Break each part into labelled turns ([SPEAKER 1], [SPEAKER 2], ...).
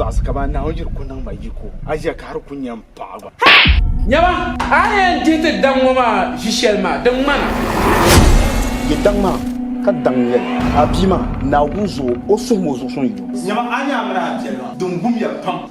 [SPEAKER 1] zaɣisi ka ba nahi o yiri ku niŋ ma yiko a ʒiya ka hali ku nyɛ n paɣa gba nyɛma
[SPEAKER 2] a ni yɛn dihi ti daŋ ŋɔ maa ʒi shɛli maa din ŋmana
[SPEAKER 3] yi daŋ maa ka daŋ yɛli a bia maa naawuni zuɣu o suhim o zuɣusuŋ yino nyɛma a ni amina a
[SPEAKER 1] biɛli maa din gum ya pam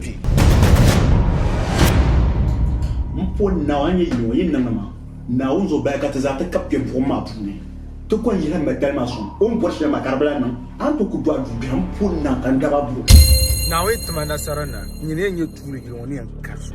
[SPEAKER 3] kpi. M po Naawuni a ni nyɛ yino, yi niŋdi ma Naawuni zuɣu bahi ka ti zaa ti kab kpe buɣim maa puuni, ti kɔŋ yihi Mɛdali maa sɔŋ. O ni bɔri shɛli maa ka di bi lahi niŋ, a ni tooi kuli dɔɣi dubiɛhi m po Naa ka n dab a buɣim. Naawuni ti ma
[SPEAKER 1] nasara na n nyini yɛn nyɛ tuuli yili ŋɔ ni yɛn kari so.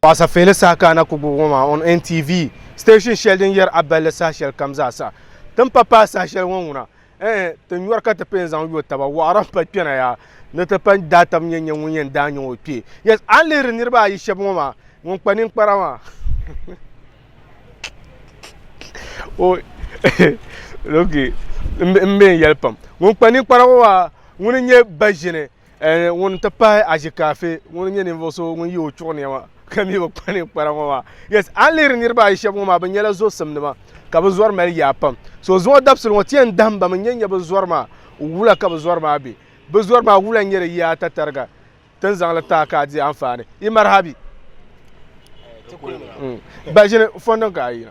[SPEAKER 1] Paɣasa Feeli saha ka a na ku gbubi ŋɔ maa on NTV, station shɛli din yɛri a balli saha shɛli kam zaa sa. Ti ni pa paai saha shɛli ŋɔ ŋuna, ɛɛ, ti nyɔri ka ti pee n-zaŋ yo taba, wɔɣiri m-pa kpɛna yaa ni ti pa daa taba nyɛ nyɛ ŋun yɛn daa nyaŋ o kpee. Yes, a ni lihiri niriba ayi shɛba ŋɔ maa, ŋun kpa ninkpara maa, o okay, m-be n-yɛli pam, ŋun kpa ninkpara ŋɔ maa, ŋuni n-nyɛ ba ʒini. Eh, ŋun n-ti pahi Azikafi ŋun n-nyɛ ninvuɣ so ŋun ye o chuɣu nɛma ka mi bi kpa ninkpara ŋɔ maa. Yes, a ni lihiri niriba ayi shɛba ŋɔ maa, bɛ nyɛla zɔsimnima, ka bɛ zɔri mali yaa pam. So zuɣu dabisili ŋɔ, ti yɛn dahim ba mi n-nyɛ n-nyɛ bɛ zɔri maa wula ka bɛ zɔri maa be. Bɛ zɔri maa wula n-nyɛ di yaa tatariga, ti ni zaŋ li taai ka a di anfaani. Yi maraha bi? Ti kuli mi na. Mm. Ba ʒini fɔndi n-ka a yi na.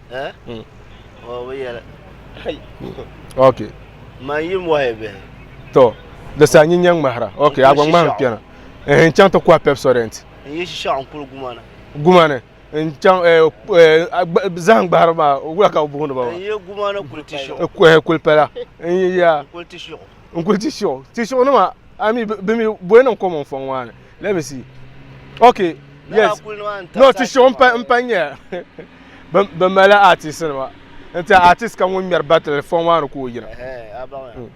[SPEAKER 1] ok
[SPEAKER 4] to
[SPEAKER 1] di saa nyin nyɛ ŋmahira ok a gba ŋmahim kpɛna n chaŋ ti kɔhi pepsodent
[SPEAKER 4] gumani
[SPEAKER 1] n chaŋ zahim gbahiri maa wula ka bi booni ba maa
[SPEAKER 4] kulipala
[SPEAKER 1] n kuli ti shiɣu ti shiɣu nima ami bi mi bɔyi niŋ kom n fɔŋ maa ni Let me see. Okay. Yes. No, ti show mpa mpa nya. Ba mala artist ma. Nti artist ka ŋun ŋmɛri battle fɔŋ maa ni ka o yina. Eh, abaŋ. Hmm.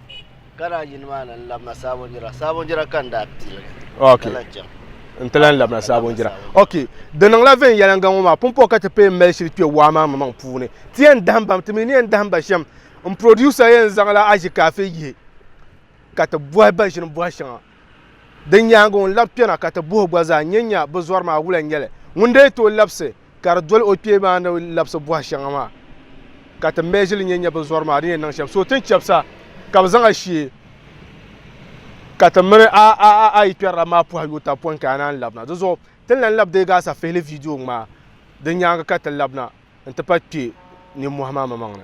[SPEAKER 4] Kana yini maa ni labna sabon jira. Sabon jira kan da pili. Okay.
[SPEAKER 1] Nti lan labna sabon jira. Okay. Di niŋla vɛn yɛlanga ŋɔ maa pumpɔ ka ti pee mali shiri kpɛ waa maa maŋ puuni. Ti yɛn dahim bam, ti mi ni yɛn dahim ba shem. N producer yɛn zaŋla aji kaafe yihi ka ti bɔhi ba ʒini bɔhi shɛŋa. Di nyaaŋa ŋun labi kpɛna ka ti buhi gba zaa nyɛ nya bi zɔri maa wula n-nyɛ li. Ŋun daa tooi labisi ka di doli o kpee maa ni labisi buhi shɛŋa maa ka ti measure li nyɛ nya bi zɔri maa di ni yɛn niŋ shɛm. So ti ni chabisa ka bi zaŋ a shee ka ti mini a a a a yi kpɛrila maa puhi yo taba pɔin ka a naan labina. Di zuɣu ti ni lan labi deei gaasa fihili video ŋmaa di nyaaŋa ka ti labina n-ti pahi kpee ninmɔhi maa maŋmaŋ ni.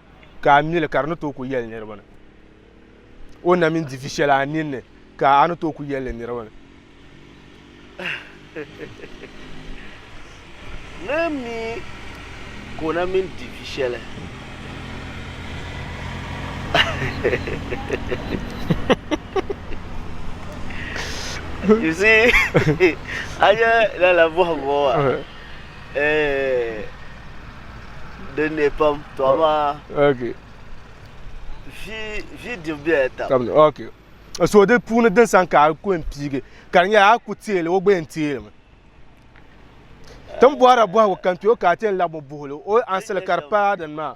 [SPEAKER 1] ka a mi li ka di ni tooi ku yɛli niriba ni o na mini divi shɛli a ninni ka a ni tooi ku yɛli li niriba ni.
[SPEAKER 4] Ni mi ka o na mini divi shɛli. you see, I just love what eh din ne pam to amaa
[SPEAKER 1] okay vi
[SPEAKER 4] vi dibu bela tam tam okay
[SPEAKER 1] so di puuni din san ka a ku n piigi ka di nyɛla a ku teeli o gba yɛn teeli mi tin bɔhira bɔhigu kan ti o ka a ti yɛn labi o buhili o ansili ka di pa din maa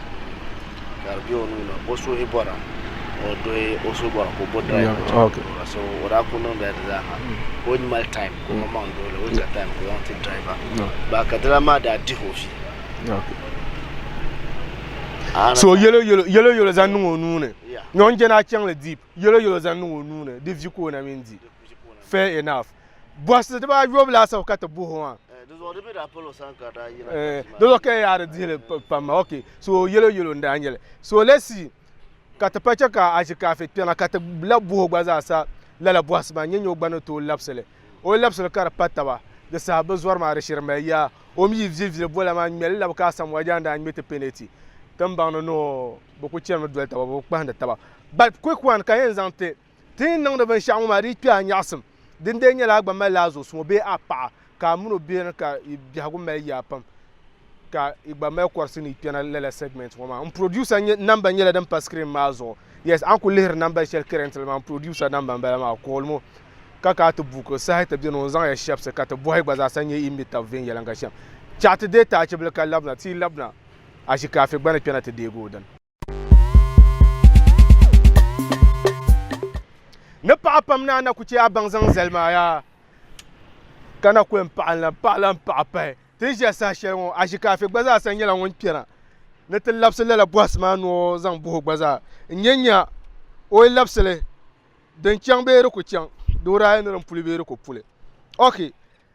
[SPEAKER 1] ka di
[SPEAKER 4] bɛ o nuuni o suhi bɔra ka o duhi o suhi bɔra ka o bo dry ka o okay. bɔra so
[SPEAKER 1] o daa ku
[SPEAKER 4] niŋ dali di zaa ha ka o mali time ka o ma maŋ duhili o nya time ka o zaŋ ti driver ba ka dala maa daa dihi o fi
[SPEAKER 1] okay. so yɛlo yɛlo yɛlo yɛlo zaŋ niŋ o nuuni nyɔŋ jɛna chaŋli deep yɛlo yɛlo zaŋ niŋ o nuuni di vi ka o na mini di fair enough Bɔhisi dibaa yobu laasabu ka ti buhi o maa. Eh, dizuɣu di mi daa palo
[SPEAKER 4] san ka daa yina. Eh, dizuɣu ka yaa di dihili
[SPEAKER 1] pam ma. Ok, so yelo yelo n daa nyeli. So lesi ka ti pa che ka a zi kaafe kpɛŋa ka ti la buhi o gba zaa sa lala bɔhisi maa nyɛ nyɛ o gba ni tooi labisili. O yi labisili ka di pa taba di saha bi zɔri maa di shiri mali yaa. O mi yi vili vili bola maa ŋmeli labi ka Asamoah Gyan daa ŋme ti peneti tinbaŋ ni ni o bi ku chani mi doli taba bi bi kpahindi taba. But quick one ka yɛn zaŋ ti. Ti ni niŋdi binshɛɣu ŋɔ maa di yi kpe a nyaɣisim, din dee nyɛla a gba mali la a zuɣusuŋɔ bee a paɣa ka a min o biɛhiri ka yi biɛhigu mali yaa pam ka yi gba mali kɔrisi ni yi kpɛna lala segment ŋɔ maa. M producer namba nyɛla din pa screen maa zuɣu. Yes, a ni kuli lihiri namba shɛli currently maa m producer namba m bala maa. Call mo ka ka ti buɣi ka saha ti beni o ni zaŋ ya shɛbisi ka ti bɔhi gba zaa sa n-nyɛ yi ni mi tab viɛnyɛliŋga shɛm. Chaɣi ti deei taachibili ka labina ti yi labina a shikaafi gba ni kpɛna ti deegi o dini. ni paɣa pam ni a na ku chɛ a baŋ zaŋ zali maa yaa ka na ku yɛn paɣa n-lan paɣa lan paɣa pahi ti ni ʒiya saha shɛli ŋɔ Ashikaafi gba zaa sa nyɛla ŋun kpɛna ni ti labisi lala bɔhisi maa ni o zaŋ bahi o gba zaa n-nya nya o yi labisi li din chaŋ bee di ku chaŋ di wuraa yi ni din puli bee di ku puli ok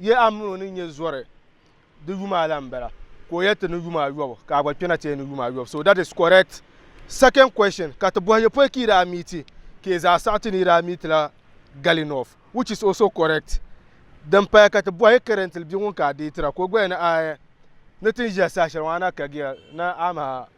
[SPEAKER 1] Yɛ a mini o ni nyɛ zɔri di yuma a la n bala ka o yɛ ti ni yuma a yɔbu ka a gba kpɛna ti yɛ ni yuma a yɔbu so that is correct second question ka ti bɔhi yɛ pɔi ka yi daa meeti ka yɛ zaa saɣiti ni yi daa meeti la gali north which is also correct din paya ka ti bɔhi currently bia ŋun ka a deetira ka o gba yɛ ni a ni tin ʒiya saha shɛli ŋɔ a na kagiya ni a maha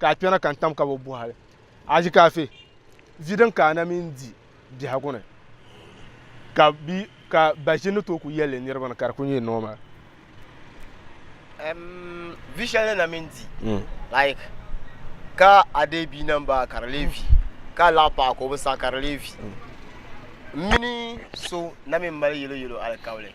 [SPEAKER 1] ka a kpɛna ka n tam ka bi bɔhili a ʒi kaafe vi din ka ana mini di biɛhigu ni ka bi ka ba ʒi ni tooi ku yɛlli niriba ni ka di ku nyɛ normal um,
[SPEAKER 5] vi shɛli ni na mini di mm. like ka a dee bia na m-ba ka di lee vi ka a laɣi paɣa ka o bi saɣi ka di lee vi mm. mini so na mi mali yelo yelo alikauli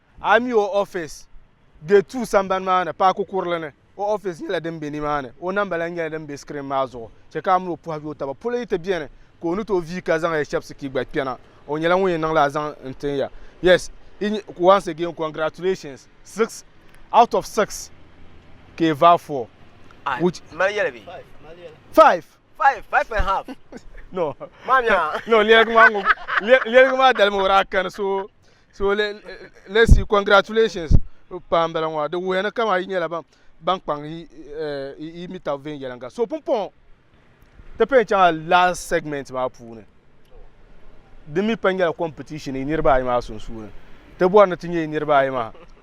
[SPEAKER 1] A yi mi o ofiisi Gate Two sambani maa ni, paaki kurili ni, o ofiisi nyɛla din be nimaani. O namba lahi nyɛla din be screen maa zuɣu. Chɛ ka a mini o pɔhi yo taba. Polo yi ti beni, ka o ni tooi vii ka zaŋ ya shɛbisi ka yi gba kpɛna. O nyɛla ŋun yɛn niŋla a zaŋ n-tin ya. Yes, once again congratulations. Six out of six ka yi vaai four. Which? N mali yɛli bee?
[SPEAKER 5] Five.
[SPEAKER 1] Five,
[SPEAKER 5] five and half. No.
[SPEAKER 1] Maa mi a? No,
[SPEAKER 5] lɛligi maa
[SPEAKER 1] ŋun, lɛligi maa dalimi o daa kani so. so le, let's see congratulations paa bala ŋɔ di wuya ni kama yi nyɛla ban kpaŋ yi mi tabi viɛnyɛliŋga so pumpɔŋɔ ti pɛn chaŋa last segment maa puuni di mi pɛn nyɛla competition yi niriba ayi maa sunsuuni ti bɔri ni ti nyɛ yi niriba ayi maa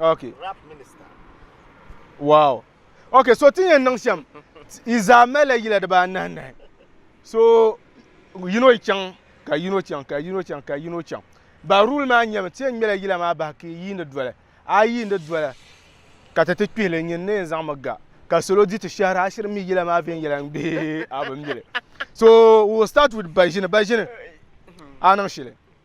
[SPEAKER 5] Okay. Rap minister.
[SPEAKER 1] Wow. Okay, so tin yen niŋ shem. Yi zaa malila yila dibaa anahi nahi. So yino yi chaŋ ka yino chaŋ ka yino chaŋ ka yino chaŋ. Ba rule maa nyɛmi ti yen ŋmela yila maa bahi ka yiini doli. A yiini doli ka ti ti kpihili nyini ni yen zaŋmi ga ka salo di ti shehira a shiri mi yila maa viɛnyɛliŋ bee a bi mili. So we'll start with Baʒini. Baʒini a niŋ shili.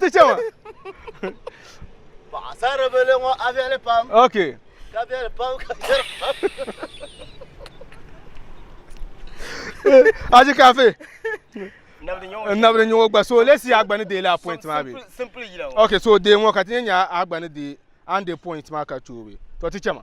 [SPEAKER 1] ti chɛ ma
[SPEAKER 4] paɣasaribili ŋɔ a viɛli pam ok ka viɛli
[SPEAKER 1] pam ka
[SPEAKER 4] viɛli
[SPEAKER 1] pam aji kafe
[SPEAKER 5] nabili nyɔŋɔ gba so
[SPEAKER 1] lesi ya gba ni deeli a point maa bi ok so
[SPEAKER 5] dee ŋɔ ka ti
[SPEAKER 1] nyɛ nya a gba ni dee an de point maa ka choobi to ti chɛ ma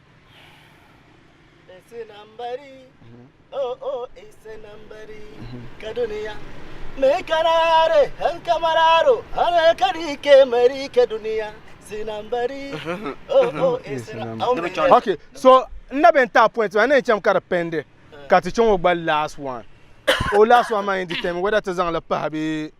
[SPEAKER 4] okay so
[SPEAKER 1] n na bɛ n taa point maa n na yɛn chaŋ ka di pɛndi ka ti chaŋ o gba last one o last one maa yɛn determine whether ti zaŋ li pahi bee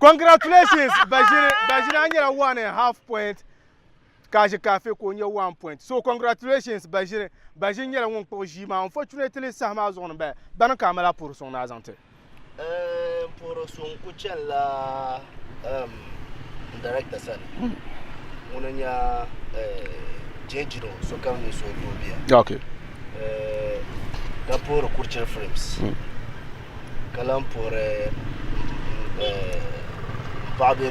[SPEAKER 5] Congratulations
[SPEAKER 1] Bashir Bashir an nyɛla one and half point Kashi Kafe ka o nyɛ one point so congratulations Bashir Bashir nyɛla ŋun kpuɣi ʒii maa unfortunately saha maa zuɣu ni bala bani ka a mali a puhiri suŋ ni a zaŋ ti
[SPEAKER 4] N puhiri so n ku chani la n director sani ŋuni n-nyɛ J. Jiro sokam ni so doo bia Okay.
[SPEAKER 1] ka
[SPEAKER 4] puhiri Kurchili Films ka lahi puhiri m paɣa bee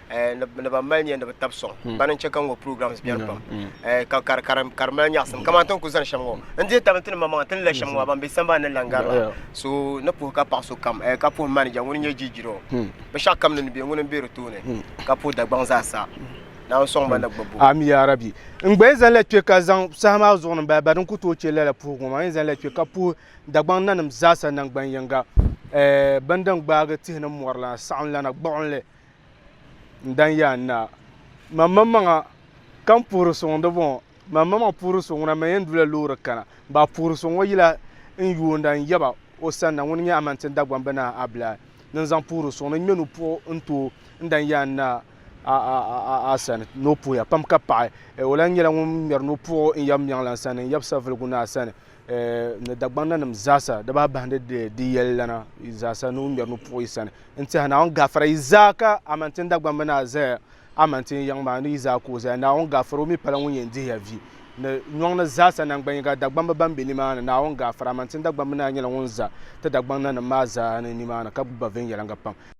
[SPEAKER 5] Eh, ni ba mali nya ni bi tab sɔŋ hmm. bani n chɛ ka ŋɔ programs hmm. biɛni pam hmm. eh, ka ka di mali nyaɣasim kamani ti ni ku zani shɛm ŋɔ n dihi tabi ti ni mamaŋa ti ni la shɛm ŋɔ ban be sambani ni langari la so ni puhi ka paɣa so kam eh, ka puhi manija ŋuni nyɛ jijiro binshaɣu kam ni ni bɛ ŋuni n bɛ di tooni ka puhi dagbaŋ zaa sa naan sɔŋ ba na gbabu ami ya rabi
[SPEAKER 1] n gba zaŋ la kpɛ ka zaŋ saha maa zuɣu ni bala din ku tooi chɛ lala puhi ŋɔ maa n zaŋ la kpɛ ka puhi dagbaŋ nanim zaa sa nangbani yinga bindin gbaagi tihi ni mɔri lana saɣim lana gbuɣinli n dan yaan naa, man maŋmaŋa ka n puhiri so ŋun di bɔŋɔ, man maŋmaŋ puhiri so ŋuna man yɛn du la loori kana, bɛ a puhiri so ŋɔ yila n yoonda n yaba o sanna, ŋuni nyɛ Amante Dagbamba Naa Abilahi ni n zaŋ puhiri so ŋuna ŋmɛni o puhi n ti o n dan yaan naa a sani ni o puhiya pam ka paɣi o lahi nyɛla ŋun ŋmɛri ni o puhi o n yaba Miɛŋlan sani n yaba Savulugu Naa sani. ni Dagbaŋ nanim zaasa di baa bahindi di yɛli lana zaasa ni o ŋmɛri ni puɣi sani n tiɛha naawuni gaafara yi zaa ka amantin Dagbaŋ mi naa zaya amantin yiŋ maa ni yi zaa ka o zaya naawuni gaafara o mi pala ŋun yɛn dihiya vi ni nyɔŋ ni zaasa nangban yiŋa Dagbamba ban be nimaani naawuni gaafara amantin Dagbaŋ mi naa nyɛla ŋun za ti Dagbaŋ nanim maa zaa ni nimaani ka gbubi ba viɛnyɛliŋga pam.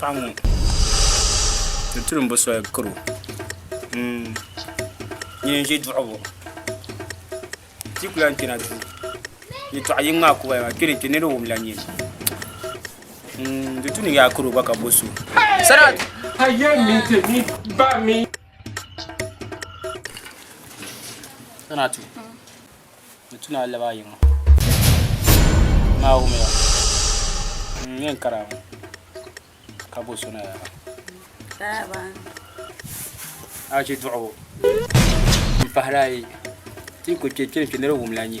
[SPEAKER 6] Paɣa ŋo di tiri n bo soli karo nyin n ʒi duɣubu ti ku lahi kpɛna duu yɛltɔɣa yini maa kubaya maa kpɛni kpɛ nira o wumla nyin di tu ni yaai karo gba ka bo so Kana ti ni tu naa laba ayi ŋɔ maa wumi ya n yɛn kara ŋɔ ka bo so na yaa a ʒi duɣu n pahari ayi ti ku kpɛ kpɛ ni kpɛ ni di wumla nyi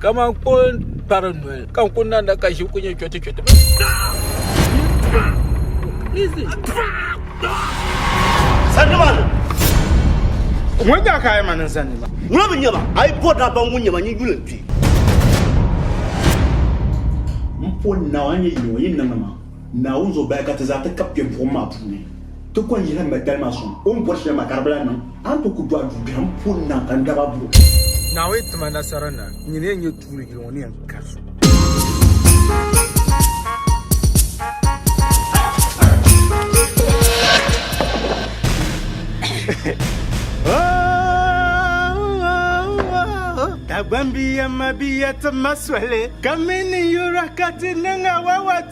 [SPEAKER 2] Kaman ko n-kpari noli, ka n ku nanda ka ʒibu ku nyɛ chɔtichɔti.
[SPEAKER 1] Ŋun nyɛ ka a yi ma niŋ zani ma? Ŋuna mi nyɛma, a yi
[SPEAKER 5] bɔri daa baŋ ŋun nyɛma, nyin yuli n-kpi.
[SPEAKER 3] M po Naawuni, a ni nyɛ yino, yi niŋ ma Naawuni zuɣu bahi ka ti zaa ti kab kpe buɣim maa puuni. Ti kɔŋ yihi m-ba dali maa sɔŋ. O ni bɔri shɛli maa ka di bi lahi niŋ. A ni tooi ku dɔɣi duu biɛhiŋ puuni na ka n daba buri. Naawuni ti ma
[SPEAKER 1] nasara na n nyini ya nyɛ tuuli yili ŋɔ ni yɛn kari so. Dagbambiya mabiya ti ma soli ka mi ni yura ka ti niŋ awawati.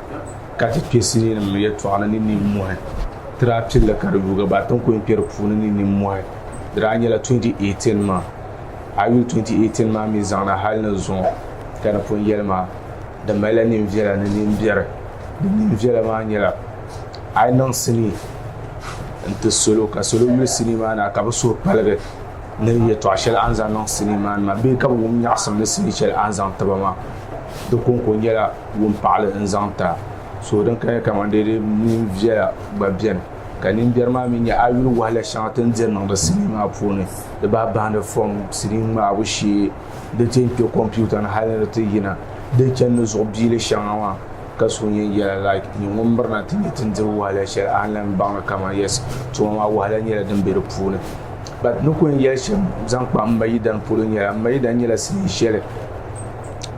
[SPEAKER 1] ka ti kpe sininim yɛtɔɣa ni ni nimmɔhi ti daa pilli ka di yuugi ba ti ni kuli kpe di puuni ni nimmɔhi di daa nyɛla 2018 maa a yuli 2018 maa mi zaŋ na hali ni zuŋɔ ka di pun yɛli maa di malila ninviɛla ni nimbiɛri di ninviɛla maa nyɛla a yi niŋ sinii n-ti salo ka salo yuli sinii maa na ka bɛ suhu paligi ni yɛtɔɣ shɛli a ni zaŋ niŋ sinii maa ni maa bee ka bɛ wum nyaɣisim ni sinii shɛli a ni zaŋ ti ba maa di kɔŋko nyɛla wumpaɣili n-zaŋ ti a. Suhu din kaya kaman dee di mini viɛla gba beni, ka nimbiɛri maa mi nyɛ a yi yuli wahala shɛŋa ti ni diri niŋdi sinii maa puuni, di bahi bahindi fom, sinii ŋmaabu shee, di ti yɛn kpe kompiuta ni hali ni di ti yina, di ni chani ni zuɣu biili shɛŋa maa, ka suhu yɛn yɛla like nyɛ ŋun mirina ti nyɛ ti ni diri wahala shɛli a ni lan mi baŋ ni kaman yes, tuma maa wahala nyɛla din be di puuni. But n ni ku yɛn yɛli shɛm zaŋ kpa m ma Yidan polo nyɛla, m ma Yidan nyɛla sinii shɛli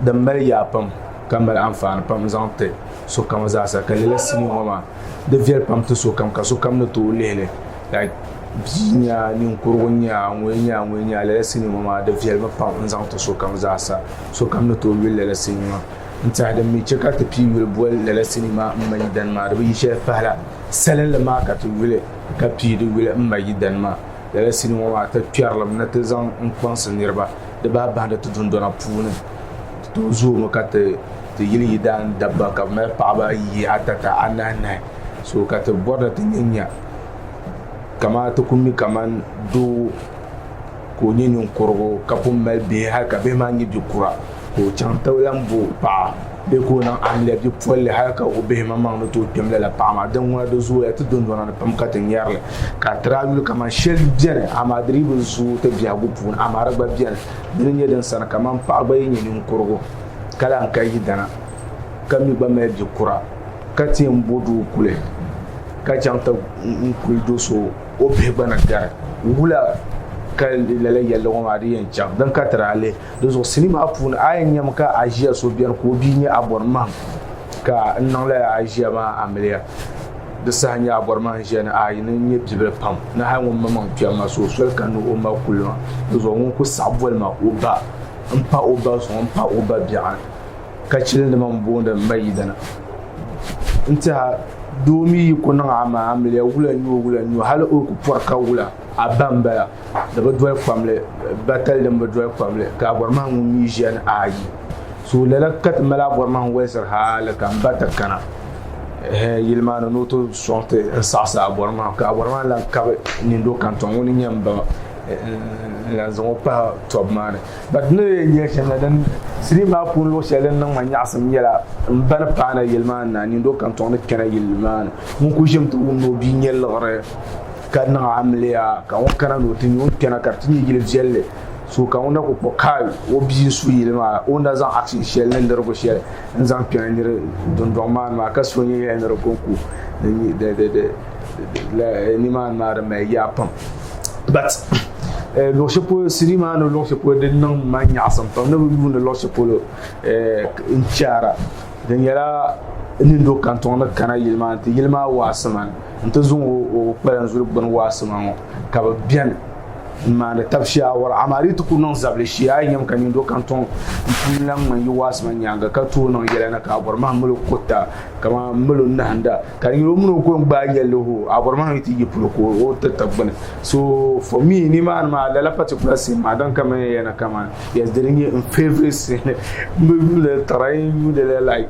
[SPEAKER 1] din mali yaa pam ka mali anfaani pam n zaŋ ti sokam zaasa ka lala sinii ŋɔ maa di viɛli pam ti sokam ka sokam ni tooi lihili like bia
[SPEAKER 7] nya ninkurigu nya ŋun nya ŋun nya lala sinii ŋɔ maa di viɛli mi pam n zaŋ ti sokam zaasa sokam ni tooi yuli lala sinii ŋɔ n tiɛha din mi che ka ti pii yuli boli lala sinii maa m ma yidana maa di bi yi shɛli pahila salinli maa ka ti yuli ka pii di yuli m ma yidana maa lala sinii ŋɔ maa ti kpɛrilim ni ti zaŋ n kpaŋsi niriba Di daa bahindi ti dundɔna puuni ti tooi zoomi ka ti ti yili yidaan dabba ka bɛ mali paɣaba ayi, atata, anahinahi. So ka ti bɔri ni ti nya nya kamaa ti ku mi kaman doo ka o nyɛ ninkurigu ka pun mali bihi hali ka bihi maa nyɛ bi kura ka o chaŋ ti lan bo paɣa. Bɛ ka o niŋ amiliya bi polli hali ka o bihi maŋmaŋ ni tooi kpɛm lala paɣa maa. Dinŋuna di zooya ti dundona ni pam ka ti nyɛri li. Ka tiri a yuli kaman shɛli beni, amaa di dii bi zooi ti biɛhigu puuni. Amaa di gba beni. Di ni nyɛ din sani kaman paɣa gba yi nyɛ ninkurigu ka lahi ka yidana ka mi gba mali bi kura ka ti yɛn bo doo kuli ka chaŋ ti kuli do so o bihi gba ni gari. Wula ka lala yɛlli ŋɔ maa di yɛn chaŋ? Din ka tiri a lihi. Di zuɣu sili maa puuni a yɛn nyɛmi ka a ʒiya so biɛni ka o bia nyɛ a bɔri mahim ka n niŋla a ʒiya maa a miliya di saha nyɛ a bɔri mahim ʒiya ni a yi ni nyɛ bibili pam ni hali ŋun ma maŋ kpɛm ma so soli ka ni o ma kuli ma di zuɣu ŋun ku saɣi boli ma o ba n pa o ba zuɣu n pa o ba biɛɣuni ka chili nima n booni m ma yidana n tiɛha doo mi yi ku niŋ a ma a miliya wula nyoo wula nyoo hali o ku pɔri ka wula a ba m bala di bi doli kpamli batali din bi doli kpamli ka abɔrimaŋ ŋun mi ʒiya ni ayi so lala ka ti mali abɔrimaŋ waliziri hali ka n ba ti kana yili maa ni ni o ti sɔŋ ti n saɣisi abɔrimaŋ ka abɔrimaŋ lan kabi nindo kantɔŋ ŋuni nyɛ m ba n lan zaŋ o pahi tɔbu maa ni but ni lee nya shɛm la din siliim maa puuni luɣ shɛli din niŋ ma nyaɣisim nyɛla m ba ni paana yili maa ni na nindo kantɔŋ ni kpɛna yili maa ni ŋun kuli ʒimi ti wumdi o bia nyɛ liɣiri Ka niŋ amiliya ka ŋɔ kana ni o ti nya o ni kpɛna ka di ti nyɛ yili viɛlli. So ka ŋuna ku kpuɣi kaai o bia n-su yili maa la, o ni daa zaŋ akshin shɛli ni lirigu shɛli n-zaŋ kpɛna nir dundɔŋ maa ni maa, ka so nyɛla nir kɔŋ ku di nimaani maa di mali yaa pam. But luɣ shɛli polo city maa ni luɣ shɛli polo di niŋ ma nyaɣisim pam ni bi yuuni luɣ shɛli polo n-chaara. Di nyɛla nini do kantɔŋ ni kana yili maa ni ti yili maa waɣisi man. n ti zuŋ o kpalan zuli gbuni waasi ma ŋɔ ka bi bɛni n maani tabi shaawara amaa di ti ku niŋ zabili shee a yi nyɛm ka nindo kan tɔŋ n puuni lan ŋmani yi waasi ma nyaanga ka tooi niŋ yɛla ni ka a bɔri mahim milo kurita kamani milo nahinda ka di nyɛ o mini o ko n gbaai yɛlli hoo a bɔri mahim yi ti yi polo ka o ti ta gbuni so for me ni maani maa lala particular scene maa din ka mini yɛna kamani yes di di nyɛ n favorite scene n bi yuuli tara n yuuli la like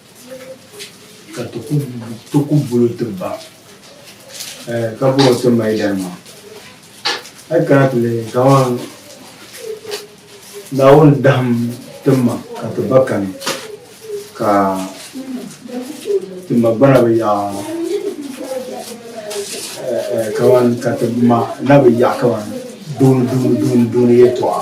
[SPEAKER 8] Ka ti ku ti ku bolo ti ba eh, ka bɔro ti mali dari maa hali kana ti lihi kaman Naawuni dahim ti ma ka ti ba kani ka ti ma gba na bi yaɣa eh, eh, kaman ka ti ma na bi yaɣa kaman dooni dooni dooni dooni yɛltɔɣa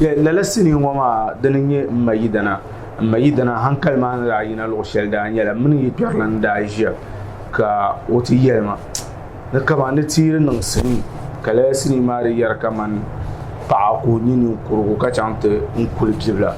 [SPEAKER 3] Lala sinii
[SPEAKER 7] ŋɔ maa dini n-nyɛ M ma yidana, M ma yidana hankali maa ni daa yina luɣ shɛli daa nyɛla mini yi kpɛrilana ni daa ʒiya ka o ti yɛli ma ni kaman ni ti yi di niŋ sinii ka lala sinii maa di yɛri kaman paɣa ka o nyɛ ninkurugu ka chaŋ ti n kuli bibila.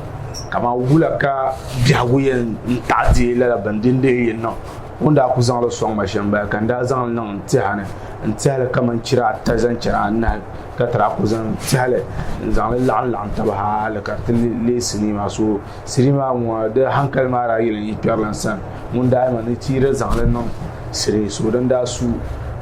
[SPEAKER 7] Kaman wula ka biɛhigu yɛn taɣi deei lala bindindihi yi niŋ? O ni daa ku zaŋ li sɔŋ ma shɛm bala ka n daa zaŋ li niŋ n tɛha ni n tɛhi li kamani chira ata zaŋ chɛri anahi ka tira ku zaŋ tɛhi li n zaŋ li laɣim laɣim taba hali ka ti leei sinii maa so sinii maa ŋɔ di hankali maa daa yili n yi kpɛri lan sani ŋun daa yɛma ni ti yi di zaŋ li niŋ sinii so din daa su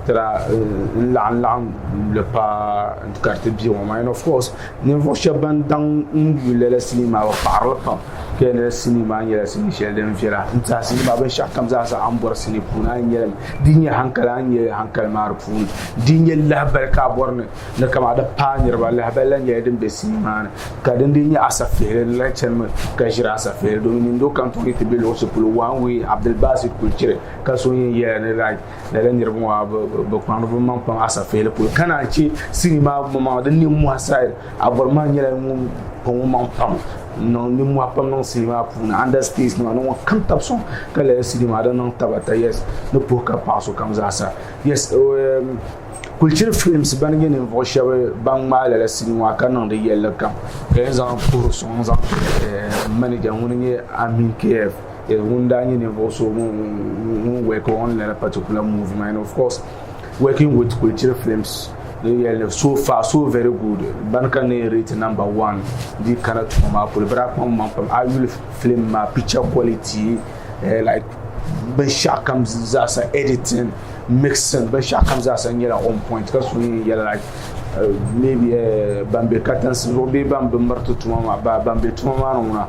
[SPEAKER 7] tira n laɣim laɣim li paa ka di ti bɛ ŋɔ maa and of course ninvuɣu shɛba ban daŋ n yuui lala sinii maa bi paɣiri li pam. Kɛnyɛla sinii maa nyɛla sinii shɛli din viɛla n tiɛha sinii maa binshɛɣu kam zaa sa a ni bɔri sinii puuni a ni nyɛ li di nyɛ hankali a ni nyɛ hankali maa di puuni di nyɛ lahabali ka a bɔri ni ni kama di paai niriba lahabali la nyɛla din bɛ sinii maa ni ka din dii nyɛ asafihili ni lahi chanimi ka ʒiri asafihili domin nini doo kam tooi ni ti bɛ luɣushɛli polo one way Abdul Basit kuli chiri ka so yɛn yɛla ni like lala niriba ŋɔ maa bɛ kpaŋdi bɛ maŋ kpaŋ asafeeli polo ka naan che sini maa gba maa di ninmohi sayid Abɔri maa nyɛla ŋun kpaŋ o maŋ pam n-niŋ ninmohi pam niŋ sini maa puuni andasitɛɛsi nima ni ŋɔ kam taba sɔŋ ka lala sini maa di niŋ taba ata yɛs ni puhi ka paɣ so kam zaa sa yɛs kulichini filimsi ban nyɛ ninvuɣ shɛba ban ŋmaai lala sini ŋɔ maa ka niŋdi yɛlli kam ka yɛn zaŋ puhiri sɔŋ zaŋ n-ti manija ŋun nyɛ Ami Kiyɛf. Yes, ŋun daa nyɛ ninvuɣu so ŋun work on a particular movie and of course working with Kulchiri Films yɛli so far so very good ban ka ne rate number one di kana tuma maa kuli bira kpam man pam a yuli film maa picture quality eh, like binshaɣu kam zaasa editing mixing binshaɣu kam zaasa nyɛla on point ka so yɛn yɛla like eh, maybe eh, ban be katansi zuɣu bee ban be miriti tuma maa ban be tuma maa ni ŋuna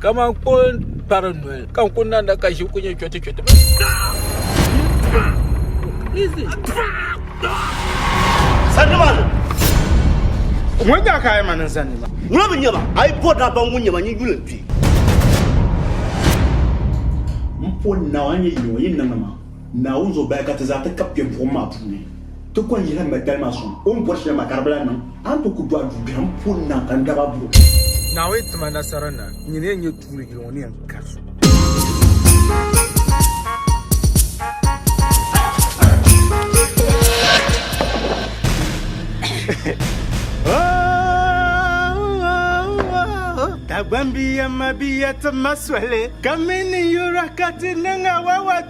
[SPEAKER 2] Kaman ko kpari noli ka n ku nanda ka ʒi ku nyɛ chɔti chɔti.
[SPEAKER 3] Sannimaani!
[SPEAKER 2] Ŋun nyɛ ka a yi ma niŋ sannima? Ŋuna mi nyɛma, a yi
[SPEAKER 3] bɔri daa baŋ ŋun nyɛma n-yi yuli n-kpi. M poni naawuni n-nyɛ yili ŋɔ, yi ni niŋ ni maa. Naawuni zuɣu bahi ka ti zaa ti kab kpe buɣim maa puuni ti kɔhi Yihaya Magdali maa suŋ o ni bɔri shɛli maa ka di bi lahi niŋ. A ni tooi kuli do a duu biɛhiŋ puuni na ka n dab a buɣim. Naawuni ti ma
[SPEAKER 7] nasara na n nyini ya nyɛ tuuli yili ŋɔ ni yɛn kari
[SPEAKER 9] so. Dagbambiya mabiya ti ma soli ka mi ninyura ka ti niŋ awawata.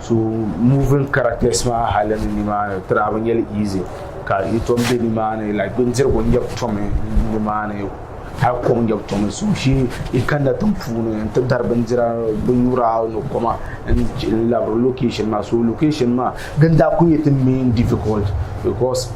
[SPEAKER 7] so moving characters maa hali ni nimaani tira bi nyɛli easy ka yi tom bɛ nimaani like bindirigu nyɛbu tomi nimaani hali kom nyɛbu tomi so shi i kanna tiŋ puuni n ti dari bindira binnyura ni koma n labiri location maa so location maa din daa ku nyɛ ti main difficult because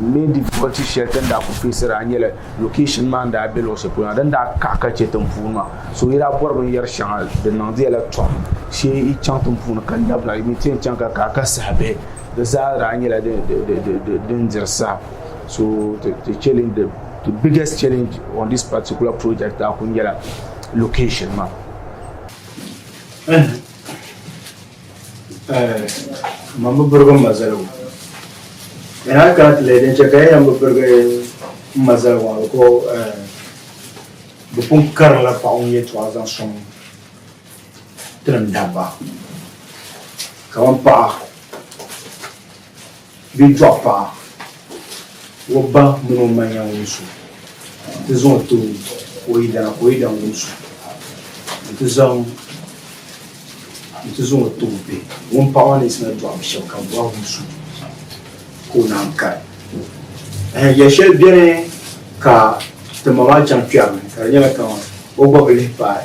[SPEAKER 7] main difficulty shɛli din daa ku feesira nyɛla Location maa n daa be luɣi shɛli polo na din daa kaɣi ka chɛ tinpuuni maa so yi daa bɔri binyɛri shɛŋa di niŋdiya la tɔm shee yi chaŋ tinpuuni ka labina yi mi ti yɛn chaŋ ka kaɣi ka saha bihi di zaa daa nyɛla din diri saha so the biggest challenge on this particular project daa kuli nyɛla location maa.
[SPEAKER 8] Eh, man bi birigi n ma zaligu. And I can't let din chɛ ka ya yan bi birigi n ma zaligu maa biko eh, bi pun karinla paɣa ŋun yɛtɔɣa zaŋ sɔŋ tinim dabba. Kaman paɣa Bɛ dɔɣi paɣa o ba mini o ma yɛn wumsi o nti zaŋ o ti o yidana ka o yidana wumsi o nti zaŋ nti zaŋ o ti o bihi. Ŋun paɣa maa ni yiɣisina dɔɣi bɛ shɛba ka bɛ ba wumsi o ka o naan kari. Ɛhɛn, yɛl shɛli beni ka ti ma maa chaŋ kpɛri ni ka di nyɛla kaman o gba bi lihi paai.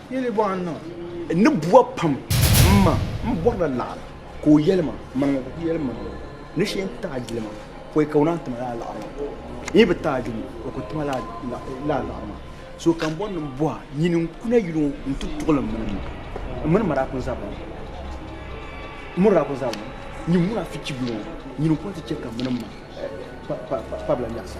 [SPEAKER 9] Yili bɔɣu n
[SPEAKER 1] niŋ. N ni bua
[SPEAKER 9] pam m ma m bɔrila laɣiri ka o yɛli ma maliŋɔ ka o ku yɛli ma maliŋɔ ni shee n taai gili ma pɔi ka o naan ti ma lala laɣiri maa n yi bi taai gili o ku ti ma lala laɣiri maa so ka m bɔri ni m bɔha nyini n ku na yuli ŋɔ n ti tuɣili m mini m mini mara kuli zabiri ŋɔ m miri daa kuli zabiri ŋɔ nyin mura fichibi ŋɔ nyini n ku na ti chɛ ka m mini m ma kpabila nyɛɣisa.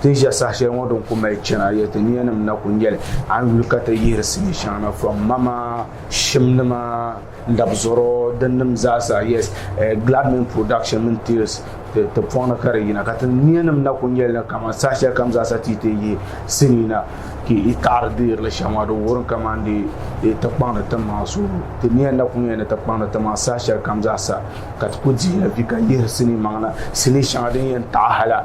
[SPEAKER 7] Ti ni ʒe saha shɛli ŋɔ din ku mali chana ya ti niyanim na ku nyɛli a ni yuli ka ti yihiri sini shɛŋa na from mama shimnima n-dabizɔro dinnim zaasa yes eh, Gladman production mini tales ti pɔŋ ni ka di yina ka ti niyanim na ku nyɛli ni kaman saha shɛli kam zaasa ti yi ti yihi sini na ka yi taɣiri deerili shɛm ŋɔ di wurim kaman di yi ti kpaŋdi ti maŋa so ti niya na ku nyɛli ni ti kpaŋdi ti maŋa saha shɛli kam zaasa ka ti ku dihila vi ka yihiri sini maŋa na sini shɛŋa din yɛn taɣi hala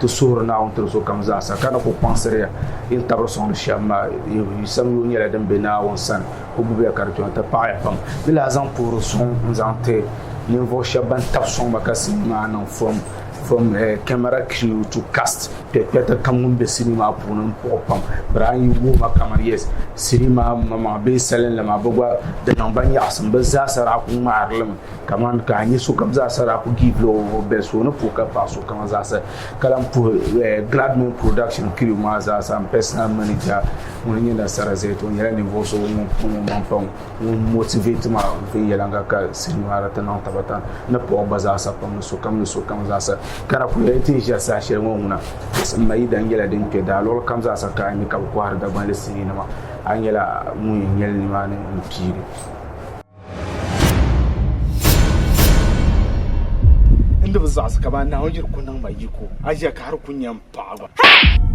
[SPEAKER 7] Ti suhiri Naawuni tiri sokam zaasa, ka ni ku kpaŋsiri ya yi ni tabiri sɔŋdi shɛm maa. Yi sam yoo nyɛla din be Naawuni sani, o gbibi ya ka di kpiɔŋ ti paɣi ya pam. Di lahi zaŋ puhiri sɔŋ n-zaŋ ti ninvuɣ shɛb bɛn tab sɔŋ ma ka sinii maa niŋ fom. Fom, camera crew to cast kpɛkpɛta kam ŋun be sinii maa puuni m-puɣi pam. Bari a ni yi wuhi ma kaman yes, sinii maa maŋmaŋa bee salinli maa, bɛ gba di niŋ ba nyaɣisim. Bɛ zaasa daa kul ŋmahiri li mi. Kaman ka a nya sokam zaasa daa ku giivil o bɛli so ni puhi ka paɣ so kaŋa zaasa, ka lan puhi Gladman Production kiriw maa zaasa. M pɛsinal manija ŋun nyɛ Nasara Zɛt, o nyɛla ninvuɣ so ŋun pun o maŋ pam, ŋun motivate ma viɛnyɛliŋga ka siri nyɔhira ti niŋ Tabatan ni Pɔɣu gba zaasa pam ni sokam ni sokam zaasa. Ka na kuli ti ni ʒiɛri saha shɛli ŋɔ ŋuna, Sim Mayida nyɛla din kpe daa luɣili kam zaasa ka a nya ka bɛ kɔhiri Dagbanli siniinima, a nyɛla ŋun yɛn nyɛ li nimaani m-piiri.
[SPEAKER 9] Ndi bi zaɣisi ka ban Naawuni yiri ku niŋ ma yiko, aʒia ka hal ku nya m-paɣi gba.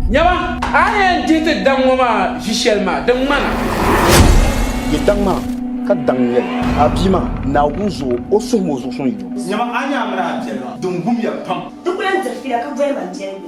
[SPEAKER 9] Nyama,
[SPEAKER 2] a ni yɛn dihi ti daŋ ŋɔ maa ʒi shɛli maa, di ŋmana. Di
[SPEAKER 9] daŋ maa, ka daŋ n-yɛli, A bia maa, Naawuni zuɣu o suhim o zuɣu suŋ yi o. Nyama, a ni yɛn amina a biɛli maa, din gum ya pam. Di ku lan dirifiya ka
[SPEAKER 10] boli ma biɛligu.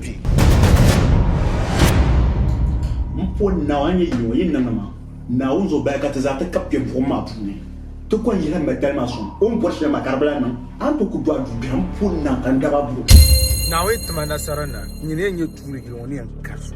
[SPEAKER 5] kpi.
[SPEAKER 3] M po Naawuni a ni nyɛ yino, yi niŋdi ma Naawuni zuɣu bahi ka ti zaa ti kab kpe buɣim maa puuni, ti kɔŋ yihi Mɛdali maa sɔŋ. O ni bɔri shɛli maa ka di bi lahi niŋ, a ni tooi kuli dɔɣi dubiɛhi m po Naa ka n dab a buɣim. Naawuni ti ma
[SPEAKER 1] nasara na, n nyini ya nyɛ tuuli yili ŋɔ ni yɛn kari so.